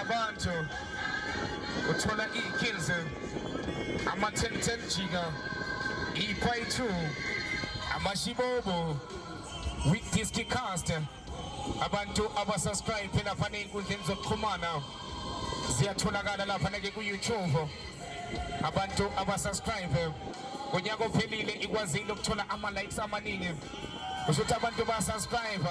abantu uthola iy'kills ama-ten-ten jika ipayi two amashibobo week disc cast abantu abasubscribe lapha ney'nkundleni zokuxhumana ziyatholakala lapha nake ku-youtube abantu abasubscribe ngonyaka ophelile ikwazile ukuthola ama-likes amaningi kusho ukuthi abantu basubscribe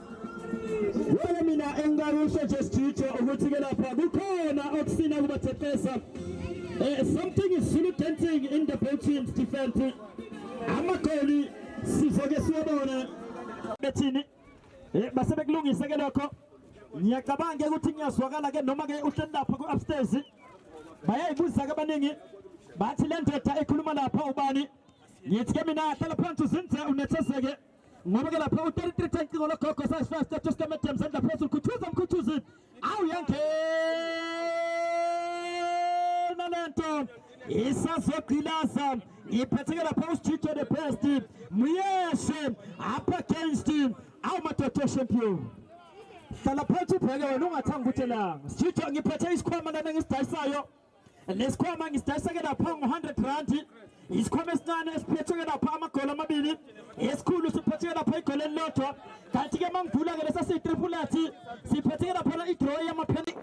Wena mina engakusho just Jijo ukuthi ke lapha kukhona okusina kubathethesa. Eh something is Zulu dancing in the both teams defense. Amagoli sizoke siwabone bethini. Eh base bekulungise ke lokho. Ngiyacabanga ukuthi ngiyazwakala ke noma ke uhleli lapha ku upstairs. Bayayibuza ke abaningi bathi le ndoda ekhuluma lapha ubani? Ngithi ke mina hlala phansi uzinze unethezeke. ngoba ke lapha u-33 tank cingo logogo sasifast etoskamente mzandla phezulu khuthuza mkhuthuzi awu yangena le nto isazogqilaza ngiphatheke lapha usijijo the best muyeshe up against awu madoda champion hlala phansi ubheke wena ungathanga ukuthi elanga sijijo ngiphethe isikhwama lana ngisidayisayo lesikhwama ngisidayiseke lapha ngo-100 randi isikhwama esincane esiphetheke lapha amagolo amabili esikhulu siphetheke lapha igolo elilodwa kanti-ke uma ngivula-ke lesa siyitripulati siphetheke laphana idroyi yamapheni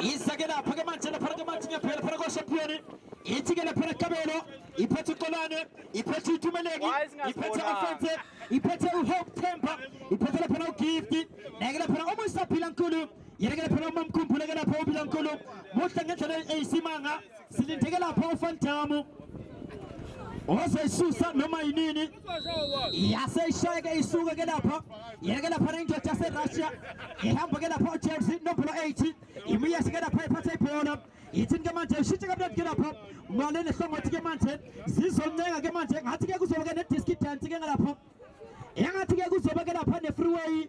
izake lapha-ke manje laphana-ke manje ngiyaphela phana kwashampiyoni ithi-ke laphana kabelo iphethe uqolane iphethe utumeleki iphethe afense iphethe uhope temper iphethe laphana ugifti neke laphana omuyisaphila nkulu yeke phela uma mkhumbule ke lapho ubila nkulu muhle ngendlela eyisimanga silindeke lapho ufantamu ozoyisusa noma yinini yaseyishayeke isuke ke lapha yeke lapha nendoda yaserussia ihamba ke lapha ujames nombolo 8 imiyese ke lapha iphatha ibhola yithini ke manje ishintshe kamnandi ke lapho ngale nehlongothi ke manje zizoncenga ke manje ngathi ke kuzoba ke ne-diski dance ke ngalapho engathi ke kuzoba ke lapha ne-freeway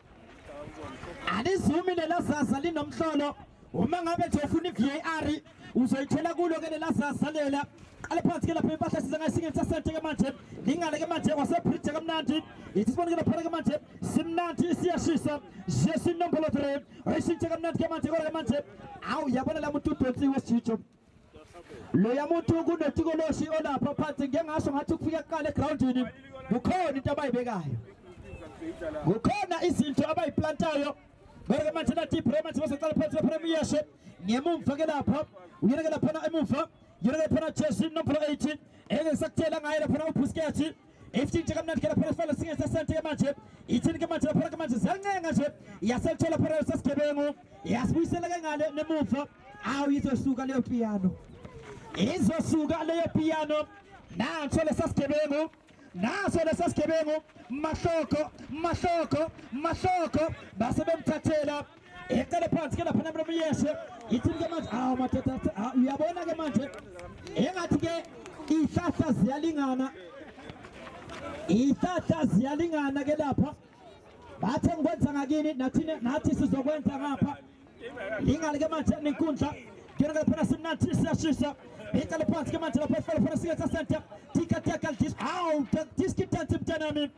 alizumi lelazaza linomhlolo uma ngabe nje ufuna i-var uzoyithola kulo ke lelazaza lela qale phansi ke lapha impahla size ngayisinge sasente ke manje lingale ke manje kwasebridge kamnandi ithi sibone ke lapha ke manje simnandi siyashisa jesu inombolo 3 oyishintshe kamnandi ke manje kodwa ke manje awu yabona la muntu udonsiwe sijijo loya muntu kunetikoloshi olapha phansi ngike ngasho ngathi kufika kuqala egroundini kukhona into abayibekayo kukhona izinto abayiplantayo Berge manje na deep Roma manje basaqala phansi la Premier Ship ngemumva ke lapha uyinekela phana emuva yinekela phana Chelsea number 18 engeke sakutshela ngaye lapha uBusquets esithinta kamnandi kela phela sifela singe sasente ke manje ithini ke manje lapha ke manje ziyancenga nje yaselithola phela sesigebengu yasibuyisela ke ngale nemuva awu izosuka leyo piano izosuka leyo piano nanso lesasigebengu naso lesasigebengu mahloko mahloko mahloko base bemthathela Ecele phansi ke lapha namlo miyeshe. Ithi ke manje ah madoda ah, uyabona ke manje. Engathi ke ihlahla ziyalingana. Ihlahla ziyalingana ke lapha. Bathe ngikwenza ngakini nathi nathi sizokwenza ngapha. Ingale ke manje nenkundla. Kena ke lapha simnathi siyashisa. Ecele phansi ke manje lapha efela fela siketsa center. Tika tika dis. Aw, diski tanti mntanami.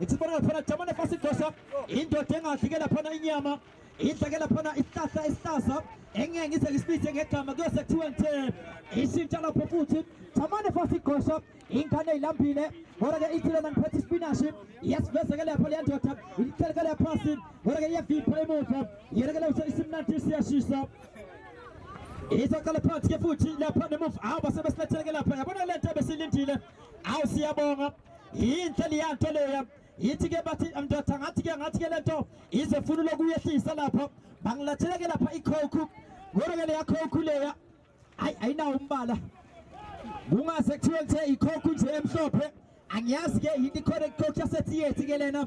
ithi bona laphana jama nefasi idosa indoda engadli ke laphana inyama idla ke laphana isihlahla esihlahla engeke ngize ngisibize ngegama kuyose kuthiwe ngithe ishintsha lapho futhi jama nefasi igosha ingane ilambile kodwa ke ithi lona ngiphethe ispinashi iyasiveza ke lapho leya ndoda ilithele ke laphasi kodwa ke iyavipha emuva yena ke lawusa isimnandi siyashisa izaqala phansi ke futhi lapha nemuva awu basebesilethele ke lapha yabona le nto besilindile awu siyabonga yinhle leya nto leya yithi-ke bathi mndoda ngathi-ke ngathi-ke le nto izefuna lokuyehlisa lapho bangilathela-ke lapha ikhokhu kodwa-ke leya khokhu leya hayi ayinawo umbala kungase kuthiwe ngithe ikhokhu nje emhlophe angiyazi-ke yini ikhona ikhokhu yasetheyethi-ke lena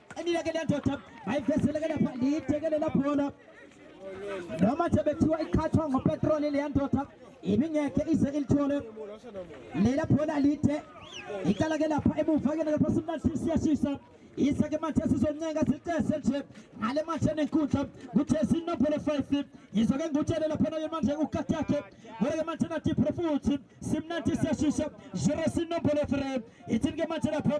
Qinile ke lendoda bayivesele ke lapha liyithekele labhola noma nje bethiwa iqhathwa ngopetroli leya ndoda ibingekhe ize ilithole lela bhola lide iqala ke lapha emuva ke lapha simnandi siyashisa isa ke manje sizoncenga sicese nje ngale manje enenkundla kuthe sinophele 5 yizo ke ngutshele lapha naye manje ukati yakhe ngole ke manje nathi futhi simnandi siyashisa 0 sinophele 3 ithini ke manje lapha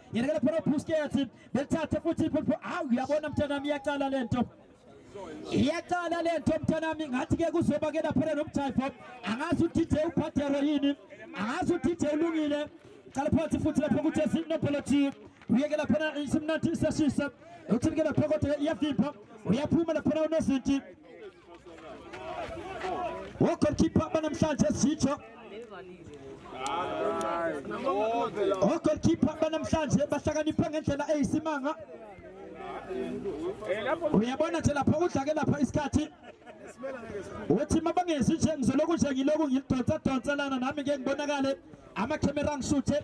Ngerekele phela uBusquets belithathe futhi iphupho. Hawu uyabona mntanami iyaqala lento. Iyaqala lento mntanami ngathi ke kuzoba ke lapha nomjayifo. Angazi uthi DJ uPadero yini. Angazi uthi DJ ulungile. Qala phansi futhi lapha ukuthi sinopholo chief. Uyeke lapha isimnathi sesisa. Uthini ke lapha kodwa iyafipha. Uyaphuma lapha unozinti. Goalkeeper hapa namhlanje sitho Goalkeeper hapa namhlanje bahlakanipha ngendlela eyisimanga uyabona nje lapha udlake lapha isikhathi uthi mabangezi nje ngizoloku nje ngiloku ngilidonsa donsa lana nami ngeke ngibonakale amakhemera angisuthe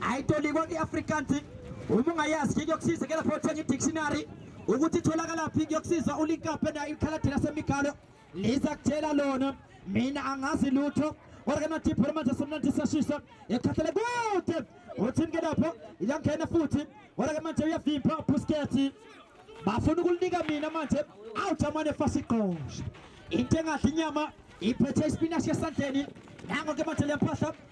ayitolikwa kwi-afrikaans uma ungayazi nje kuyokusiza ke lapho uthenga i-dictionary ukuthi itholakalaphi kuyokusiza ulinkape nayo ikhaladi lasemigalo liza kutshela lona mina angazi lutho kodwa ke nathipho lamanje somnandi sashisa ekhathele kude uthini ke lapho iyangena futhi kodwa ke manje uyavimba ubuskethi bafuna ukulinika mina manje awujamane fasigqoshe into engadla inyama iphethe isipinashi esandleni nango ke manje lempahla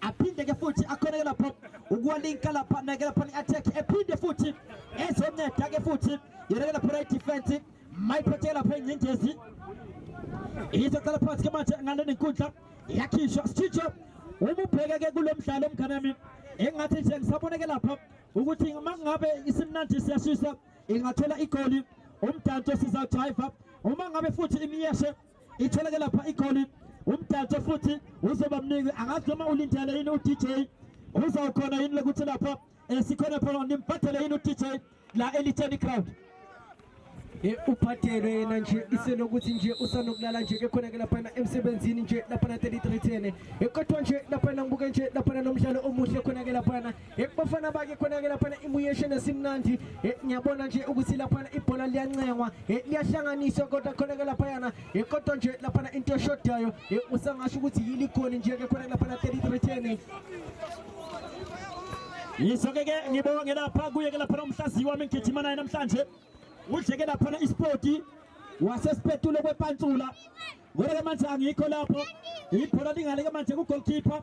aphinde ke futhi akhoneke lapho ukuwalinka lapha aneke lapha i-attack ephinde futhi ezonceda ke futhi yoneke lapho right defense mayiphethe lapha ingcindezi izaqala phansi ke manje ngale nenkundla yakhishwa sitshitsho uma ubheke ke kulo mdlalo mngane wami engathi nje ngisaboneke lapha ukuthi uma ngabe isimnandi siyashisa ingathola igoli umdanso sizawujayiva uma ngabe futhi imiyeshe Itholeke lapha igoli umdanso futhi uzoba mningi angazi noma ulindele yini uDJ uzawukhona yini lokuthi lapha eh, sikhona phela nimphathele yini uDJ la elitheni crowd eh, uphathele yena nje iselokuthi nje usanokulala nje ke khona ke laphana emsebenzini nje laphana 3310 eh, kodwa nje laphana ngibuke nje laphana nomdlalo omuhle khona ke laphana Eh, bafana bake khona-ke laphana imuyesheni esimnandi eh, ngiyabona nje ukuthi laphana ibhola liyancengwa eh, liyahlanganiswa kodwa khona-ke laphayana kodwa nje laphana into eshodayo usangasho ukuthi yiligoli nje-ke khona-ke laphana 33 10 yiso-ke ke ngibonge lapha kuye-ke laphana umhlaziyi wami ngigijima naye namhlanje udleke laphana ispoti wasesipetule kwepantsula kodwa-ke manje angikho lapho ibhola lingale-ke manje kugolkhipha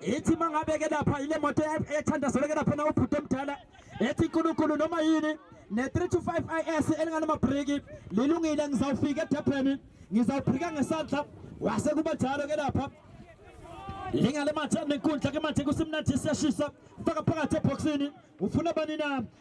ethi mangabeke lapha ile moto ethandazeleke lapha na ubhuti omdala ethi nkulunkulu noma yini ne-3 to 5 is elinganamabriki lilungile ngizawufika edebheni ngizawubrika ngesandla wase kuba njalo ke lapha lingale mathe nenkundla ke mathe kusimnathi siyashisa faka phakathi ebhoksini ufuna bani na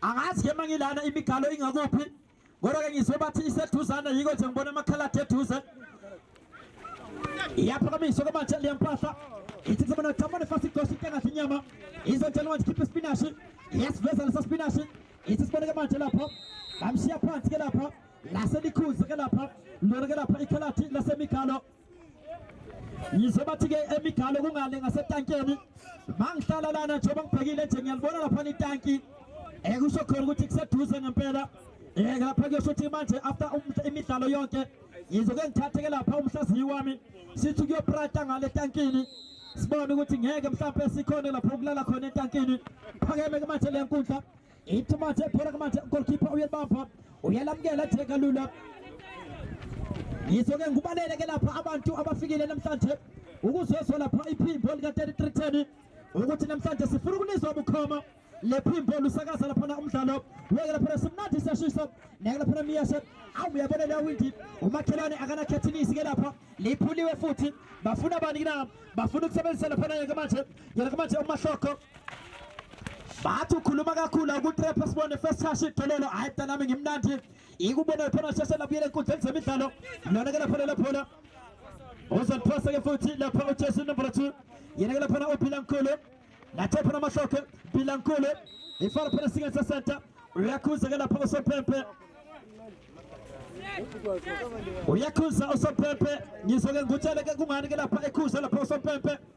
angazi ke mangilana imigalo ingakuphi kodwa ke ngizwe bathi iseduzana yiko nje ngibona amakhaladi eduze iyaphakamiswa kwamanje leya mpahla ithi kusema natamane fast igosha into engathi inyama izotshela manje khipha ispinashi iyasiveza lesa spinashi ithi sibone ke manje lapho bamshiya phansi ke lapha laselikhuzi ke lapha lona ke lapha ikhaladi lasemigalo yize bathi-ke emigalo kungale ngasetankeni mangihlala lana njengoba ngibhekile nje ngiyalibona laphana itanki um kusho khona ukuthi kuseduze ngempela um lapha kuyosho ukuthi manje after um, imidlalo yonke yizoke ngithatheke lapha umhlaziyi wami sithi kuyoprata ngale tankini sibone ukuthi ngeke mhlawumbe sikhone lapho kulala khona etankini phakeme ke manje le nkundla Ithumathe phela kumanje goalkeeper uyebamba uyalamukela theka lula yizo ke ngubalele ke lapha abantu abafikile namhlanje ukuzozwa lapha iphimbo lika 3310 ukuthi namhlanje sifuna ukunizwa bukhoma lephimbo lusakaza laphana umdlalo weke laphana simnandi siyashisa neke laphana miyashe awu uyabona leya windi umakhelwane akanakhethinisi ke lapha liphuliwe futhi bafuna bani na bafuna ukusebenzisa laphana yeke manje yeke manje umahlokho bathi ukhuluma kakhulu akutrep sibone first touch idololo hayi mntana nami ngimnandi ikubona iphona sheshe labuyela enkundleni zemidlalo lona ke lapha lelaphona uzoliphosa ke futhi lapha ujesi number 2 yena ke laphana ubilankulu nathe phana amahloke bilankulu ifana phana singa sasenta uyakhuza ke lapha usophempe uyakhuza usophempe ngizwe ke ngutshele ke kungani ke lapha ekhuza lapha usophempe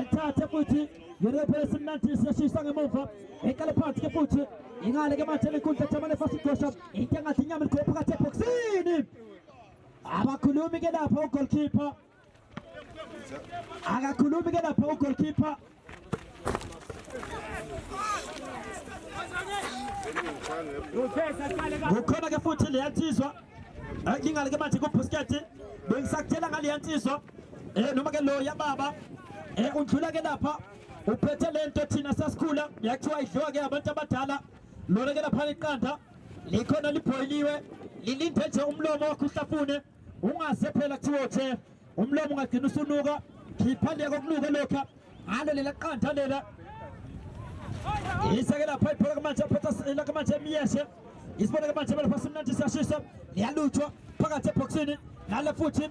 ethathe futhi yirebhe esimnandi siyashisa ngemuva eqale phansi ke futhi ingale ke manje lenkundla jamane fasigosha into engathi inyama likhopha phakathi ebhoksini abakhulumi ke lapha ugolkipa akakhulumi ke lapha ugolkipa kukhona ke futhi leya nsizwa ingale ke manje kubhusketi bengisakutshela ngaleya nsizwa eh noma ke lo yababa eh udlula ke lapha uphethe lento thina sasikhula yakuthiwa idliwa ke abantu abadala lona ke lapha iqanda likhona libhoyiliwe lilinde nje umlomo wakho uhlafune ungase phela kuthiwa uthe umlomo ungagcina usunuka khipha le kokunuka lokha ngalo lela qanda lela isake lapha iphela kamanje aphetha la kamanje emiyeshe isibone kamanje lapha simnandi siyashisa liyaluthwa phakathi ebhoksini nale futhi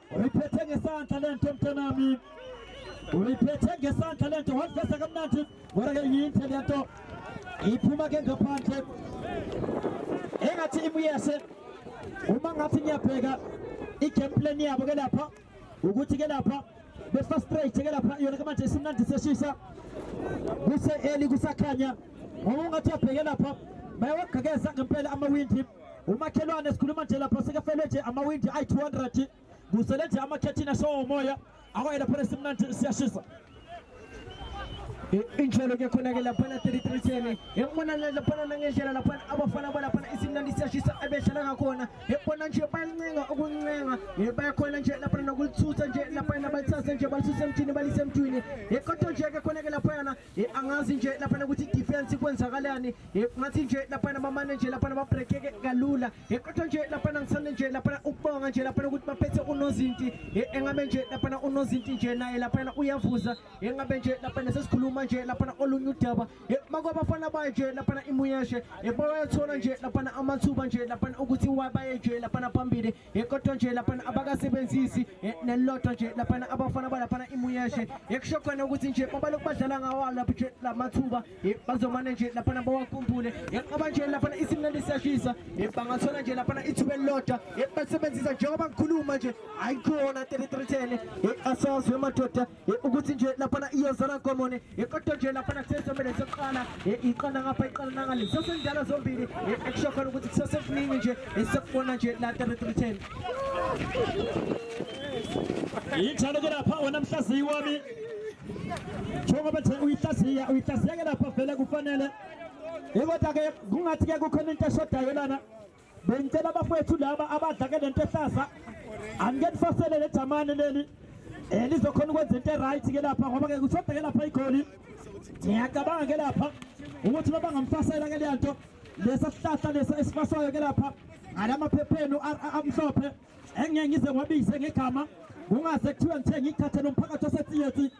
Uyiphethe ngesandla lento mntanami. Uyiphethe ngesandla lento wafesa kamnandi. Ngora ke yinhle lento. Iphuma ke ngaphandle. Engathi imuyese uma ngathi ngiyabheka i-game plan yabo ke lapha ukuthi ke lapha befa straight ke lapha yona ke manje isimnandi seshisa kuse-eli kusakhanya ngoba ungathi uyabheke lapha bayawagqekeza ngempela amawindi umakhelwane sikhuluma nje lapha sekafelwe nje amawindi ayi-200 kusele nje amakhethini ashowo umoya akwaye lapho nesimnandi siyashisa injalo ke khona ke laphana 3310 yabona laphana nangendlela laphana abafana balaphana isimnandi siyashisa ebedlala ngakhona yabona nje bayancenga ukuncenga bayakhona nje laphana nokulithutha nje laphana balithathe nje balisuse emthini balise emthini kodwa nje ke khona ke laphana Eh, angazi nje laphana ukuthi defense ikwenzakalani eh, ngathi nje laphana bamane nje laphana babrekeke kalula eh, kodwa nje laphana ngithanda nje laphana ukubonga nje laphana ukuthi baphethe unozinti engabe nje laphana unozinti nje naye laphana uyavuza engabe nje laphana sesikhuluma nje laphana olunye udaba makwabafana bayo nje laphana imuyeshe bayathola nje laphana amathuba nje laphana ukuthi wabaye nje laphana phambili yekodwa nje laphana abakasebenzisi nelilodwa nje laphana abafana balaphana imuyeshe yekusho khona ukuthi nje babalokhu badlala ngawo lapho nje la mathuba bazomane nje laphana bawakhumbule yenqaba nje laphana isimnandi siyashisa bangathola nje laphana ithuba elilodwa basebenzisa njengoba ngikhuluma nje ayikhona 3310 asazwe madoda ukuthi nje laphana iyozala nkomone kodwa nje laphana kusesomele sokuqala iqala ngapha iqala nangale sesendala zombili ekusho khona ukuthi kusesekuningi nje esikubona nje la 3310 yinjalo ke lapha wena mhlaziyi wami njengoba nje uyihlaziya uyihlaziya ke lapha vele kufanele kodwa ke kungathi ke kukhona into eshodayo lana bengicela abafowethu laba abadlake lento ehlaza angike nifasele le jamane leli elizokhona eh, ukwenza into eright ke lapha ngoba ke kushoda ke lapha igoli ngiyacabanga ke lapha ukuthi baba ngamfasela ke lento lesa sihlahla lesa esifaswayo ke lapha ngalamaphepheni amhlophe engeke ngize ngwabize ngegama kungaze kuthiwe ngithe ngikhathele umphakathi osethiyethi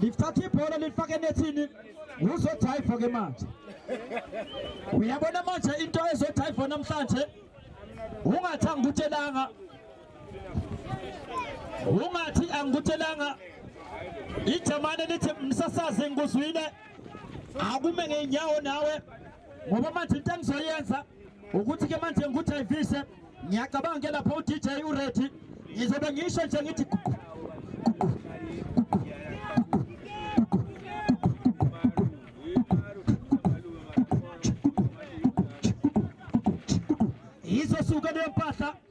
lithatha ibhola lifake enethini uzodrayiva ke manje uyabona manje into ezodrayiva namhlanje ungathi angikutshelanga ungathi angikutshelanga ijamane lithi msasazi ngikuzwile akume ngeenyawo nawe ngoba manje into engizoyenza ukuthi ke manje ngikujayivise ngiyacabanga ke lapho uDJ uReady ngizobe ngisho nje ngithi gugu gugu gugu izosuka leyo mpahla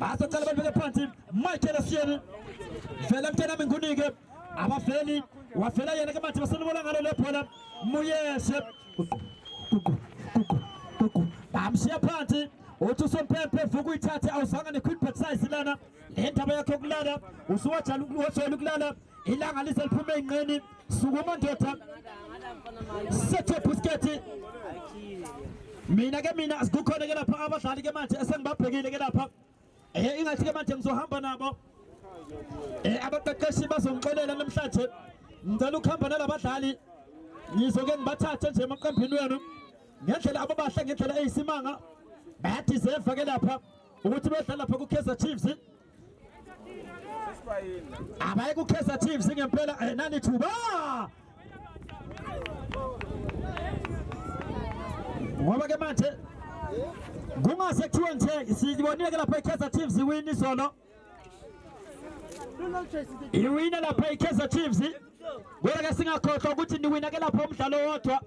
basacala babeke phansi michael asiyeni vela mntanami ngunike abaveli wavela yena ke manje basenibona ngalo le bhola muyeshe bamshiya phansi uthi usompempe vuka uyithathe awuzanga ne-quick batsize lana le ndaba yakho kulala usuwajala ukulala ilanga lize liphume ey'nqeni sukuma ndoda sethe busketi mina ke mina sikukhona ke lapha abadlali ke manje esengibabhekile ke lapha eh ingathi ke manje ngizohamba nabo eh abaqeqeshi bazongixolela namhlanje ngicela ukuhamba nalabadlali ngizoke ngibathathe nje emaqembini wenu ngendlela ababahle ngendlela eyisimanga bayadeserve ke lapha ukuthi bedlala lapha ku-Kaizer Chiefs abaye kukhesa team singempela eh, nani thuba ngoba ke manje kungase kuthiwe nje sibonile ke lapha ikhesa team ziwini izolo iwina lapha ikhesa chiefs kodwa ke singakhohlwa ukuthi niwina ke lapha umdlalo wodwa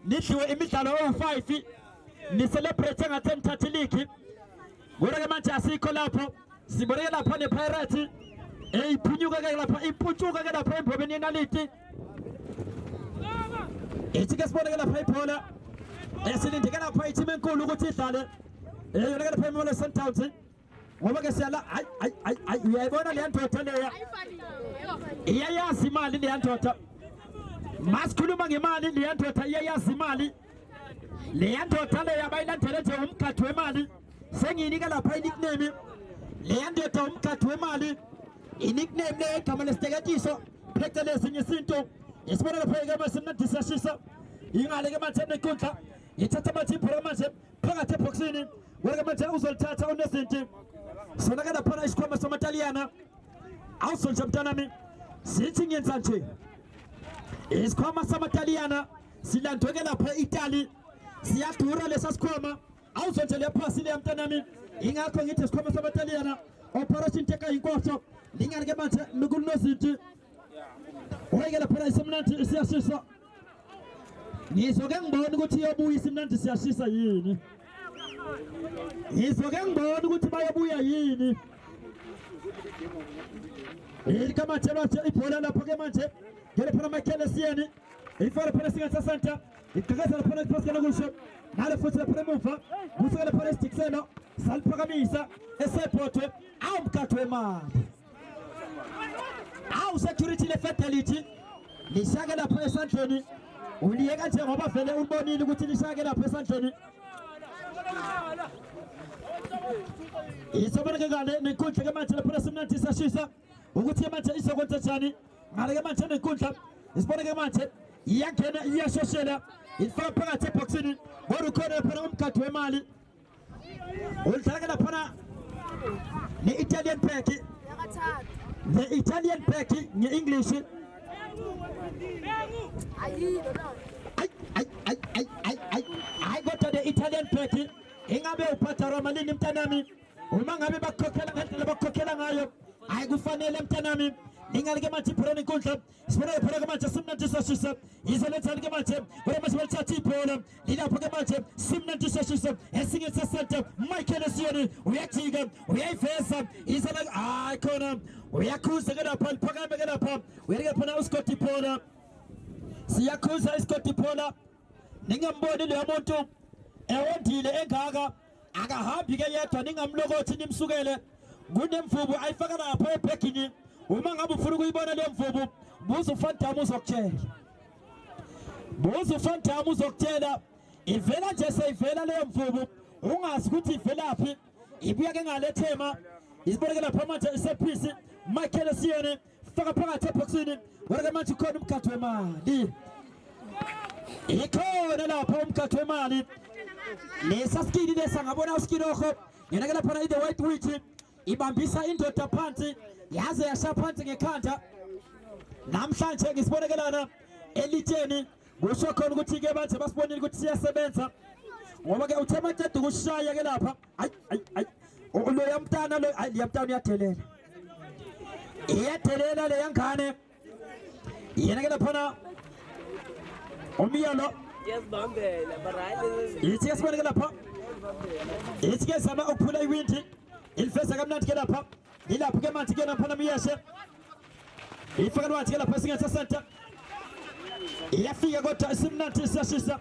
nidliwe imidlalo ewu-5 nicelebrate ngathi enithatha iligi Kodwa-ke manje asikho lapho siboleke lapha nepirates eyiphunyuka-ke lapha iputshuka-ke lapha embobeni yenaliti ithi-ke siboneke lapha ibhola esilindeke lapha ithimu enkulu ukuthi idlale eyona-ke lapha imimola sundowns ngoba-ke siyala hayi hayi hayi hayi uyayibona leya ndoda leya iyayazi imali leya ndoda masikhuluma ngemali leya ndoda iyayazi imali leya ndoda leyo abayilandele nje umgadi wemali sengiyinika lapha inikname leya ndoda umgadi wemali inikname leyo igama lesiteketiso phecelezi ngesintu isibona lapha ke mase mnandisa shisa ingale ke manje nenkundla ithatha manje ibhola manje phakathi ebhoksini wena ke manje uzolithatha unezinti sona ke laphana isikhwama samataliyana awusonje mntanami sithi ngenza nje isikhwama samataliyana silandweke lapha e-italy siyadura lesa sikhwama awuzonje le phasi leya mntanami ingakho ngithi sikhwama samataliyana operation teka yinkohlo linganike manje mikunozinti oyeke laphana isemnandi isiyashisa ngizoke ngibone ukuthi iyobuya isimnandi siyashisa yini ngizoke ngibone ukuthi bayobuya yini ilikamathelwa nje ibhola lapho ke manje ngelephana amakhele siyeni ifaka phana singa sasanta iqhekeza lapha nesiphasela kusho nalo futhi lapha emuva kusukela phana isidikiselo saliphakamisa esephothwe awu mkhathi wemali awu security le fatality lishake lapha esandleni uliyeka nje ngoba vele ulibonile ukuthi lishake lapha esandleni isoboneke ngale nenkundla ke manje lapha simnandi sashisa ukuthi manje izokwenza njani ngale ke manje nenkundla isibone ke manje iyangena iyashoshela ifaka phakathi ebhoksini kodwa ukhona laphana umgadi wemali ulidlala ke laphana ne-italian back ne-italian back nge-english hayi kodwa ne-italian back ingabe uphatha romalini mntanami uma ngabe bakukhokhela ngendlela bakukhokhela ngayo hayi kufanele mntanami ningalike manje ibholeni inkundla sibonele phela ke manje simnandisa shisa yize lethani ke manje kodwa manje balithatha ibhola lilapho ke manje simnandisa shisa esinye sesente michael esiyoni uyajika uyayiveza yize la hayi khona uyakhuza ke lapha liphakame ke lapha uyalike phona uskoti ibhola siyakhuza iskoti ibhola ningemboni leyo muntu ewondile engaka akahambi ke yedwa ningamlokothi nimsukele kunemvubu ayifaka lapho ebhegini uma ngabe ufuna ukuyibona leyo mvubu buza ufandamu uzokutshela buza ufandamu uzokutshela ivela nje seyivela leyo mvubu ungazi ukuthi ivelaphi ibuya ke ngalethema iziboneke lapha manje isephisi michael siyene Faka phakathi ebhokisini. Wena ke manje ukhona umgadli wemali. Ikhona lapha umgadli wemali. Lesa skini lesa ngabona uskini okho. Yena ke lapha i-the white witch ibambisa indoda phansi yaze yasha phansi ngekhanda. Namhlanje ngisibonekelana elitsheni kusho khona ukuthi ke manje basibonile ukuthi siyasebenza ngoba ke uthe maqeda ukushaya ke lapha ayi ayi ayi loya mntana lo ayi liya mntana uyadelela iyadelela leya ngane yena ke laphana umyalo yithi ke siboneke lapha yithi ke zama ukuphula iwindi ilifesa kamnandi ke lapha ilapho ke manthi ke naphana miyeshe ifaka lwathi ke lapha singethe center iyafika kodwa isimnandi siyashisa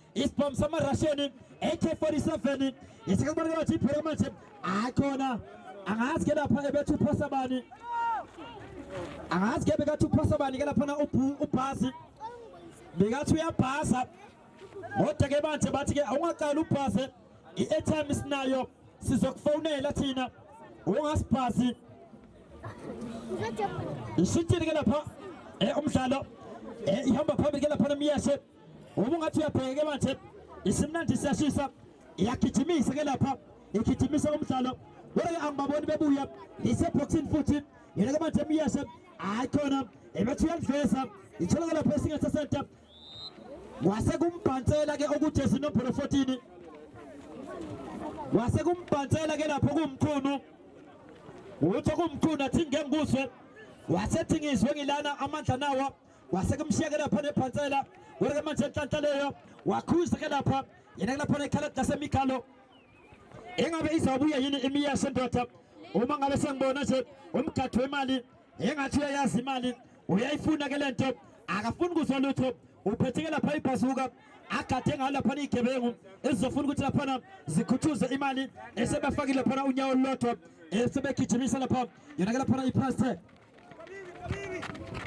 isibhamu samarasheni AK47 isikubonakala ukuthi iphele manje hayi khona angazi ke lapha ebethu uphosa bani angazi ke bekathi uphosa bani ke laphana ubhasi bekathi uyabhasa kodwa ke manje bathi ke awungaqali ubhase i-airtime isinayo sizokufonela thina ungasibhasi ishintshile ke lapha eh, umdlalo eh, ihamba phambili ke laphana miyeshe Uma ungathi uyabheke manje isimnandi siyashisa iyagijimisa ke lapha igijimisa umdlalo kodwa ke angibaboni bebuya iseboxini futhi yena ke manje emyeshe hayi khona ebethi uyaliveza ithola ke lapha esingethe senta wase kumbhansela ke okujezi nombolo 14 wase kumbhansela ke lapho kumkhulu utho kumkhulu athi ngengikuzwe wasethi ngizwe ngilana amandla nawa kwase kumshiyeke lapha nebhansela wonke manje enhlanhla leyo wakhuza ke lapha yena kulapha nekhala lasemigalo engabe izabuya yini imiya sendoda uma ngabe sengibona nje umgadwe imali engathi uyayazi imali uyayifuna ke lento akafuni kuzwa lutho uphetheke lapha ibhazuka agade ngayo lapha igebengu ezizofuna ukuthi laphana zikhuthuze imali esebafakile laphana unyawo lolodwa esebegijimisa lapha yona ke laphana ipress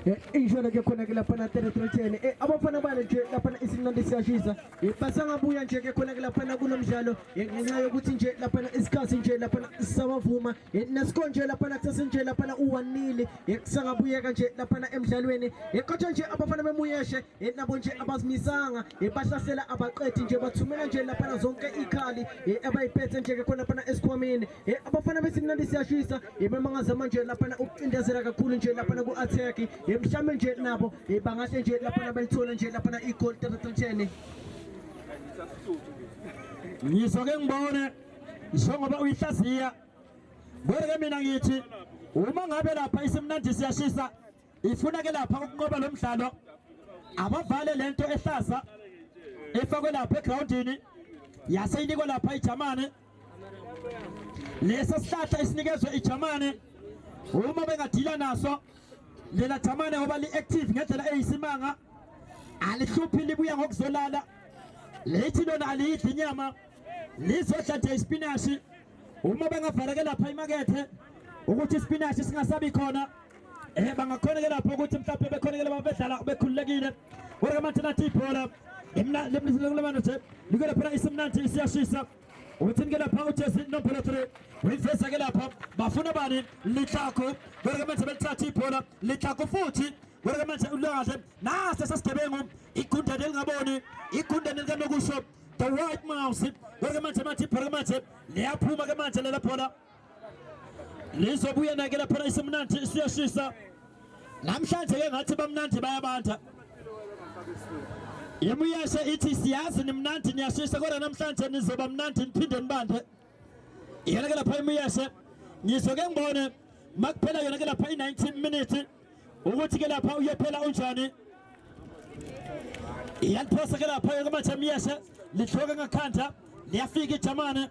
Eh, injolo ke khona ke laphana teretrechene eh, abafana bale nje laphana isimnandi siyashisa eh, basangabuya nje ke khona ke laphana kulo mdlalo ngenxa yokuthi nje laphana isikhathi nje laphana sisabavuma nesikho nje laphana kusase nje laphana uwanile kusangabuyeka nje laphana emdlalweni kodwa nje abafana bemuyeshe nabo nje abazimisanga bahlasela abaqethi nje bathumela nje laphana zonke ikhali abayiphethe nje ke khona laphana esikhwameni e abafana besimnandi siyashisa imamangaza manje laphana ukucindezela kakhulu nje laphana ku-attack emhlawumbe nje nabo bangahle nje laphana balithole nje laphana igol tatatantshene ngizoke ngibone njengoba uyihlaziya kodwa-ke mina ngithi uma ngabe lapha isimnandi siyashisa ifuna ke lapha ukunqoba lo mdlalo abavale le nto ehlaza efakwe lapha egrawundini yaseyinikwa lapha ijamane Lesa sihlahla esinikezwe iJamane uma bengadila naso lena Jamane ngoba li-active ngendlela eyisimanga alihluphi libuya ngokuzolala lithi lona aliyidli inyama lizodla nje ispinashi uma bengavaleke lapha imakethe ukuthi ispinashi singasabi khona eh bangakhoneke lapho ukuthi mhlawumbe bekhonekele babedlala bekhululekile kodwa manje nathi ibhola lemlisilekulabana nje likele phela isimnandi isiyashisa uthini ke lapha ujesi nombolo 3 uyiveza ke lapha bafuna bani litlako kodwa manje belithatha ibhola litlako futhi kodwa manje ulwaze nase sasigebengu igundane elingaboni igundane likanokusho the white mouse kodwa manje manje ibhola manje liyaphuma ke manje lelabhola lizobuya nake laphana isimnandi isiyashisa namhlanje ke ngathi bamnandi bayabanda imuyashe ithi siyazi nimnandi niyashisa kodwa namhlanje nizoba mnandi niphinde nibande yona ke lapha imuyashe ngizo ke ngibone makuphela yona ke lapha i-19 minutes ukuthi ke lapha uyophela unjani iyaliphosa ke lapha yoke manje imuyashe lihloke ngakhanda liyafika ijamane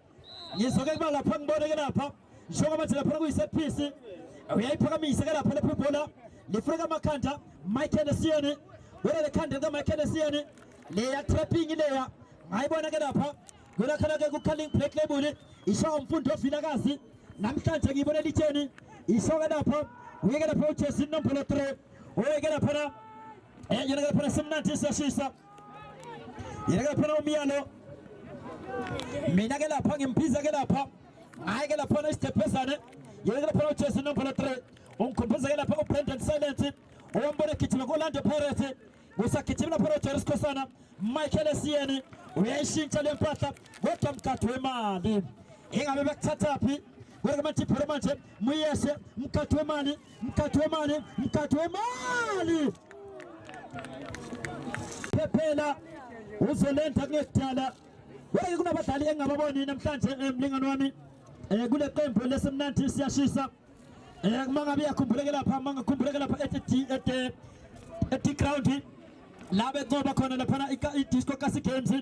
ngizoke kuba lapha ngibone ke lapha njengoba manje lapha kuyi-set piece uyayiphakamise ke lapha lapha ibhola lifuna kamakhanda michael esiyeni wena lekhanda likamichael esiyeni leya trapping leya ngayibona ke lapha kulakhana ke kukhaling black label isho umfundi ovilakazi namhlanje ngiyibone litheni isho ke lapha uyeke lapha ujesu inombolo 3 uyeke laphana eh, yona ke laphana simnandi siyashisa Yeka phela umyalo. Mina ke lapha ngimphiza ke lapha. Hayi ke lapha isitephesane. Yeka phela uJesu number 3. Ungikhombisa ke lapha uBrendan Silence. Owambona egijima ko-Orlando Pirates. Kusagijimela phela uJeris Khosana. Michael Esiyeni uyayishintsha le mpahla kodwa mkhathi wemali. Ingabe bekuthathaphi? Wena ke manje phela manje muyeshe mkhathi wemali. mkhathi wemali mkhathi wemali phephela uzolenza kunekudala wake kunabadlali engingababoni namhlanje eh, mlingani wami um kule qembu lesemnandi siyashisa um eh, uma ngabe yakhumbuleke lapha uma ngakhumbuleke lapha eti-ground la becoba khona laphana i-disco kasi games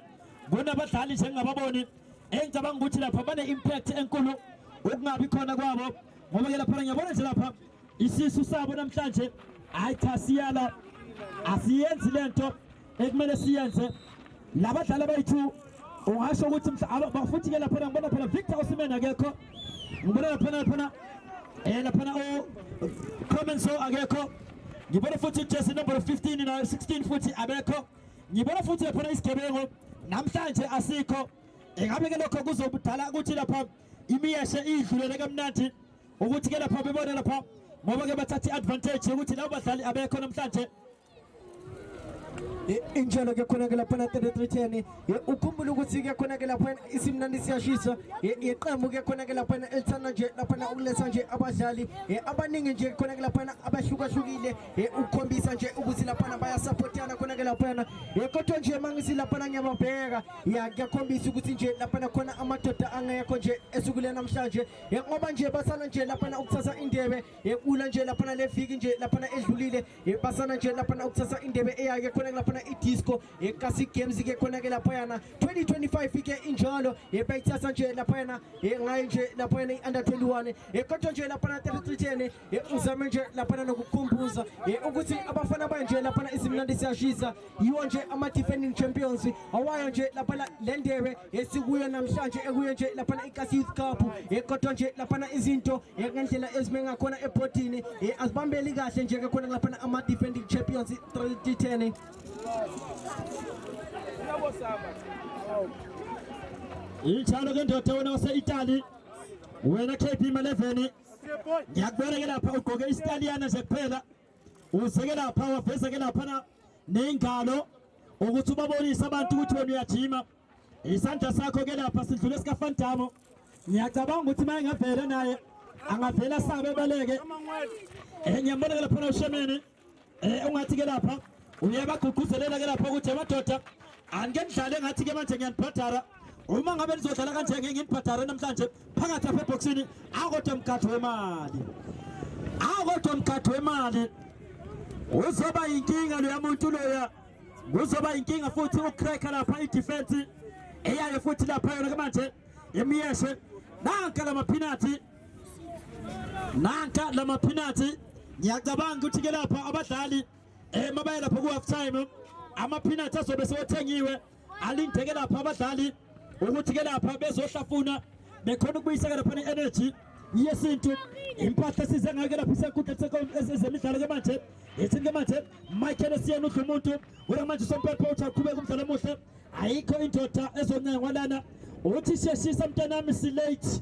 kunabadlali nje engingababoni engicabanga ukuthi lapha bane-impact enkulu ukungabi khona kwabo ngoba ke lapha ngiyabona nje lapha isisu sabo namhlanje hayi cha siyala asiyenzi lento ekumele siyenze labadlali abayi-2 ungasho ukuthi bafuthi ke laphana ngibona phela Victor Osimhen akekho ngibona laphana laphana eh laphana o Comenso akekho ngibona futhi uJesse number 15 na 16 futhi abekho ngibona futhi laphana isigebengu namhlanje asikho ingabe ke lokho kuzobudala ukuthi lapha imiyeshe idlulele kamnandi ukuthi ke lapha bebona lapha ngoba ke bathatha i-advantage yokuthi labo badlali abekho namhlanje injalo ke khona ke lapha na 3310 ukhumbula ukuthi ke khona ke lapha isimnandi siyashisa iqembu ke khona ke lapha elithanda nje lapha na ukuletha nje abadlali abaningi nje khona ke lapha abahlukahlukile ukukhombisa nje ukuthi lapha bayasupportana khona ke lapha kodwa nje mangisi lapha ngiyababheka ya kuyakhombisa ukuthi nje laphana khona amadoda angekho nje esukule namhlanje ngoba nje basana nje laphana ukuthatha indebe yekula nje laphana leviki nje laphana edlulile basana nje laphana ukuthatha indebe eyake khona laphana idisco yekasi games ke khona ke lapha yana 2025 ke injalo yebayithatha nje laphana ngayo nje laphana i-under 21 kodwa nje laphana 3310 ngizame nje laphana nokukhumbuza ukuthi abafana banje laphana isimnandi siyashisa yiwo nje ama-defending champions awayo nje laphana le ndebe esikuyo namhlanje ekuyo nje laphana ikasi youth cup kodwa nje laphana izinto ngendlela ezime ngakhona ebhodini azibambeli kahle nje-ke khona laphana ama-defending champions 310 ithalo ke ndoda wena wase-itali wena kp maleveni ngiyakubona ke lapha ugqoke isitaliyana nje kuphela uzeke lapha waveza ke lapha na nengalo ukuthi ubabonise abantu ukuthi wena uyajima isandla sakho ke lapha sidlule sikafantamo ngiyacabanga ukuthi maye ngavele naye angavele asabe baleke eh, ngiyambona ke lapha ushemeni Eh ungathi ke lapha uyabagqugquzelela ke lapha ukuthi amadoda anike nidlale ngathi ke manje ngiyanibhadara uma ngabe nizodlala kanje ngeke nginibhadare namhlanje phakathi apha ebhoksini akodwa mgadli wemali akodwa mgadli wemali uzoba yinkinga loya muntu loya kuzoba yinkinga futhi ucracker lapha idefense eyayo futhi lapha yona ke manje imiyeshe nanka lamaphinathi nanka lama peanuts ngiyacabanga ukuthi ke lapha abadlali eh mabaye lapha ku half time ama peanuts azobe sewathengiwe alindeke lapha abadlali ukuthi ke lapha bezohlafuna bekhona ukubuyiseka lapha ne-energy yesintu impahla esize ngayo ke lapha isenkundla ezemidlalo ke manje yethini ke manje michael esiyena udla umuntu wena manje usompepha uthi aqhubeke umdlalo omuhle ayikho indoda ezoncenga kwalana uthi sheshisa mntanami silate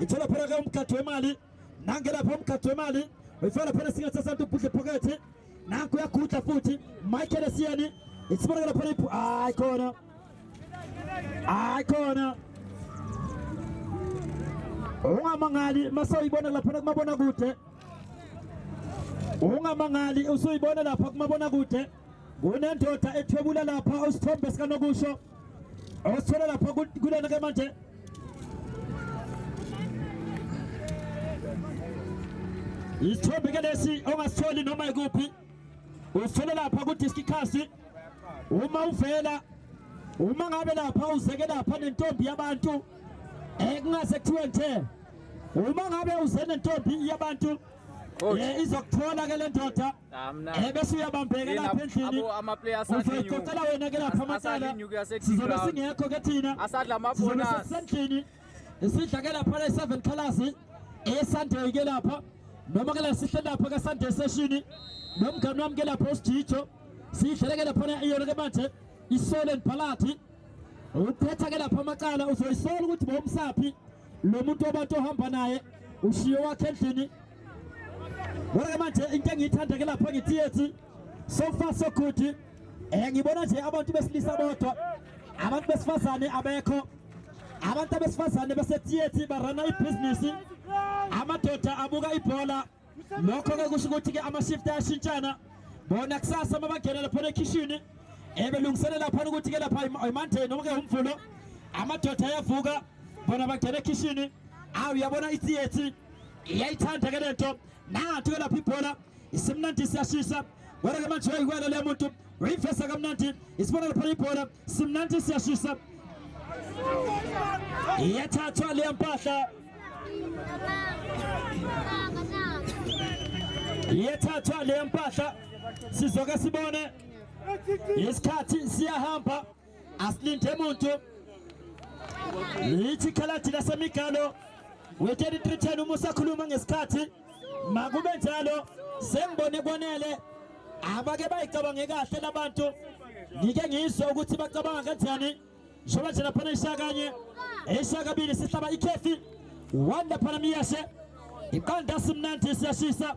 ithola phela ke umgadwe wemali nangelapha umgadwe wemali uyifaka phela singathi sasantu ubhudle phokethe nanku uyagudla futhi Michael Esiyeni isibonakala phela iphu hayi khona hayi khona ungamangali masoyibona lapha kumabona kude ungamangali usoyibona lapha kumabona kude kunendoda ethwebula lapha usithombe sikanokusho Awasithola lapha kulena ke manje. Isithombe ke lesi ongasitholi noma ikuphi. Usithola lapha ku Discicast. Uma uvela uma ngabe lapha uzeke lapha nentombi yabantu ekungase kuthiwe nje uma ngabe uze nentombi yabantu oh. eh, izokuthola ke le ndoda Eh, bese uyabambheka lapha endlini uzoyicocela wena ke lapha amacala sizobe singekho ke thina sizobe sisendlini sidla ke lapha le seven colors eyesunday ke lapha noma ke la sihle lapha ke sunday session nomngane wami ke lapha usijijo sidlele ke lapha iyona ke manje isole nibhalathi uphetha ke lapha amacala uzoyisola ukuthi bowumsaphi lo muntu wabantu ohamba naye ushiye wakhe endlini kodwa-ke manje into engiyithanda-ke lapha ngithi yethi so far so good um eh, ngibona nje abantu besilisa bodwa abantu besifazane abekho abantu abesifazane basethiyethi barana ibhizinisi amadoda abuka ibhola Lokho-ke kusho ukuthi-ke ama-shift ayashintshana bona kusasa uma bangena laphana ekhishini ebelungiselela laphana ukuthi-ke lapha imonday noma-ke umvulo amadoda ayavuka bona bangena ekhishini awu uyabona itheatre iyayithanda ke le nto nathi-ke lapha ibhola isimnandi siyashisa kodwa-ke manje uyayikwela le muntu Wayifesa kamnandi isibonelo phela ibhola simnandi siyashisa iyathathwa leya mpahla iyathathwa leya mpahla sizoke sibone isikhathi siyahamba asilinde muntu lithi ikhaladi lasemigalo we-3310 uma usakhuluma ngesikhathi makube njalo sengibone kwanele abake bayicabange kahle labantu ngike ngizwe ukuthi bacabanga kanjani njengoba nje laphana ishaya kanye eshaya kabili sihlaba ikhefi wanda phana miyashe iqanda simnandi siyashisa